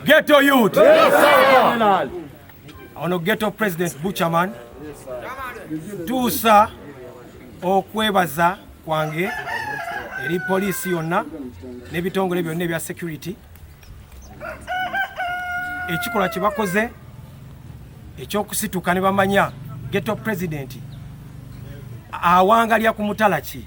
Ghetto youth. Yes, sir. Ono ghetto president Butcherman. Yes, sir. Tuusa okwebaza kwange eri poliisi yonna n'ebitongole byonna ebya security ekikolwa kye bakoze ekyokusituka ne bamanya geto pulezidenti awangalya ku mutala ki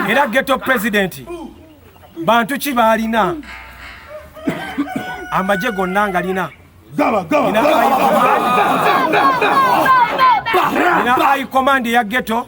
era geto pulezidenti bantu ki baalina amagye gonna ngalina ina ayi komandi ya geto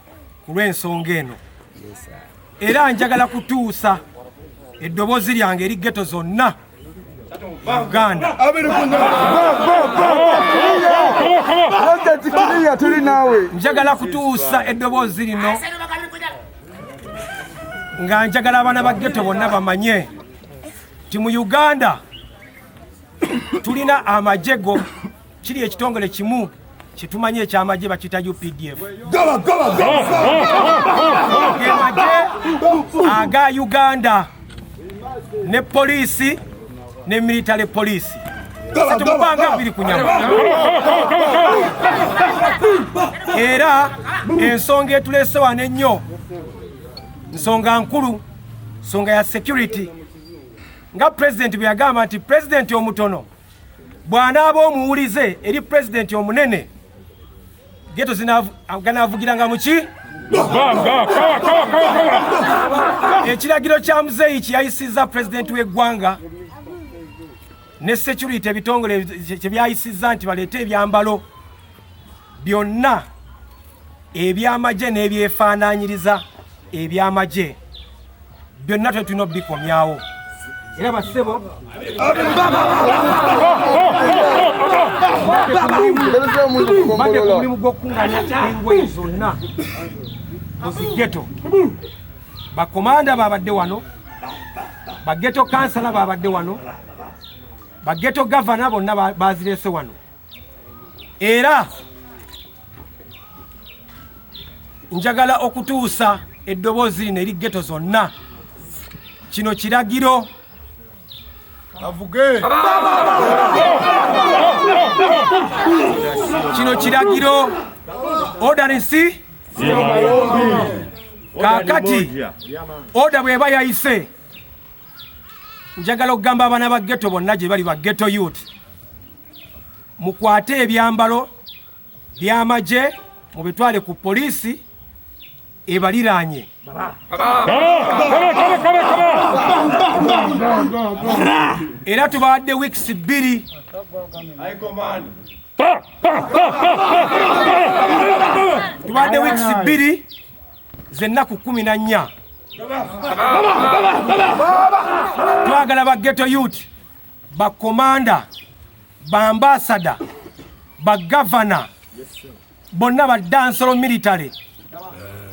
ku lw'ensonga eno era njagala kutuusa eddoboozi lyange eri geto zonna uganda njagala kutuusa eddoboozi lino nga njagala abaana ba geto bonna bamanye nti mu uganda tulina amajego kiri ekitongole kimu kyetumanyi ekyamagye bakiyita updf gemagye aga uganda ne poliisi ne military poliisi tetumubanga biri kunyama era ensonga etulese wano ennyo nsonga nkulu nsonga ya security nga pulezidenti bwe yagamba nti pulezidenti omutono bw'anaaba omuwulize eri pulezidenti omunene geto ganaavugiranga muki ekiragiro kya muzeeyi kyeyayisizza pulezidenti w'eggwanga ne security ebitongole kye byayisizza nti baleete ebyambalo byonna eby'amagye n'ebyefaanaanyiriza eby'amagye byonna twe tulina obikomyawo era bassebo mbadde ku mulimu gw'okukunganya engoye zonna mu zigeto bakomanda baabadde wano bageto kansala baabadde wano bageto gavana bonna bazireese wano era njagala okutuusa eddoboozi lino eri geto zonna kino kiragiro kino kiragiro odanisi kakati oda bweba yayise njagala okugamba abaana ba geto bonna gye bali ba geto youth mukwate ebyambalo by'amagye mubitwale ku poliisi ebaliraanye era tubawadde wiikisi bbiri tubawadde wiikisi bbiri zennaku kumi na nnya twagala ba geto yuti bakkomanda bambaasada bagavana bonna baddansolo military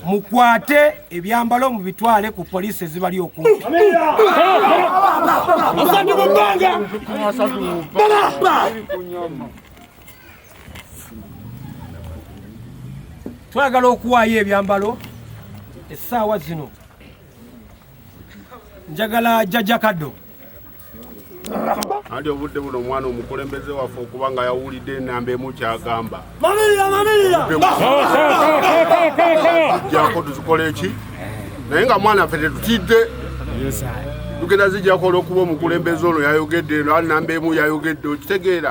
mukwate ebyambalo mubitwale ku poliisi ezibali okumpi twagala okuwaayo ebyambalo essaawa zino njagala jjajakaddo anti obudde buno omwana omukulembeze waffe okuba nga yawulidde enamba emu kyagamba jako tuzikola eki naye nga mwana ffe tetutidde tugenda zijako olwokuba omukulembeze ono yayogedde eno alinamba emu yayogedde okitegeera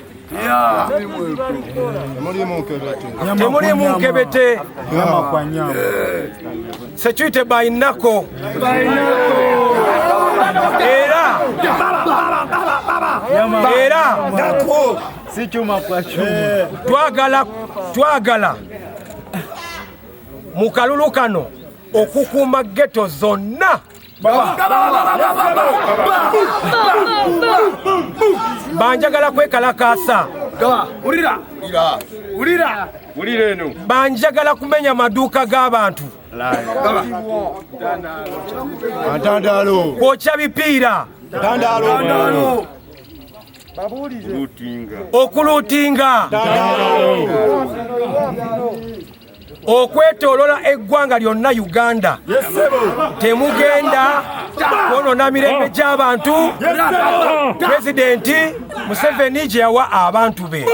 temuli munkebete security by nako era era twagala twagala mu kalulu kano okukuuma geto zonna banjagala kwekalakaasa banjagala kumenya maduuka g'abantu kwokya bipiira okuluutinga okwetolola eggwanga lyonna uganda temugenda kwonona mirembe oh. gy'abantu pulezidenti museveni gye yawa abantu be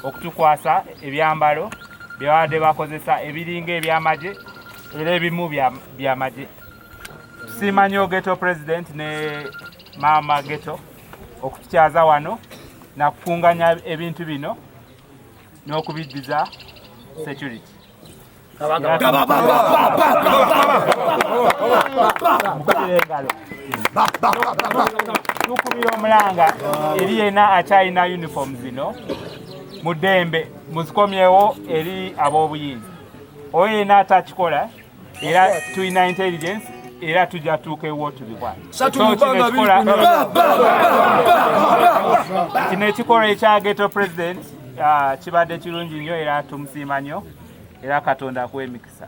okutukwasa ebyambalo byebabadde bakozesa ebiringa ebyamagye era ebimu byamagye tusiima nyo geto president ne maama geto okutukyaza wano nakukunganya ebintu bino n'okubiddiza security tukubira omulanga eri yena akyalina uniform zino mu ddembe muzikomyewo eri ab'obuyinza oyo yena atakikola era tulina intelligence era tujja tuuka ewotulibwa kino ekikolwa ekya geto president ah, kibadde kirungi nnyo era tumusiima nnyo era katonda akuwa emikisa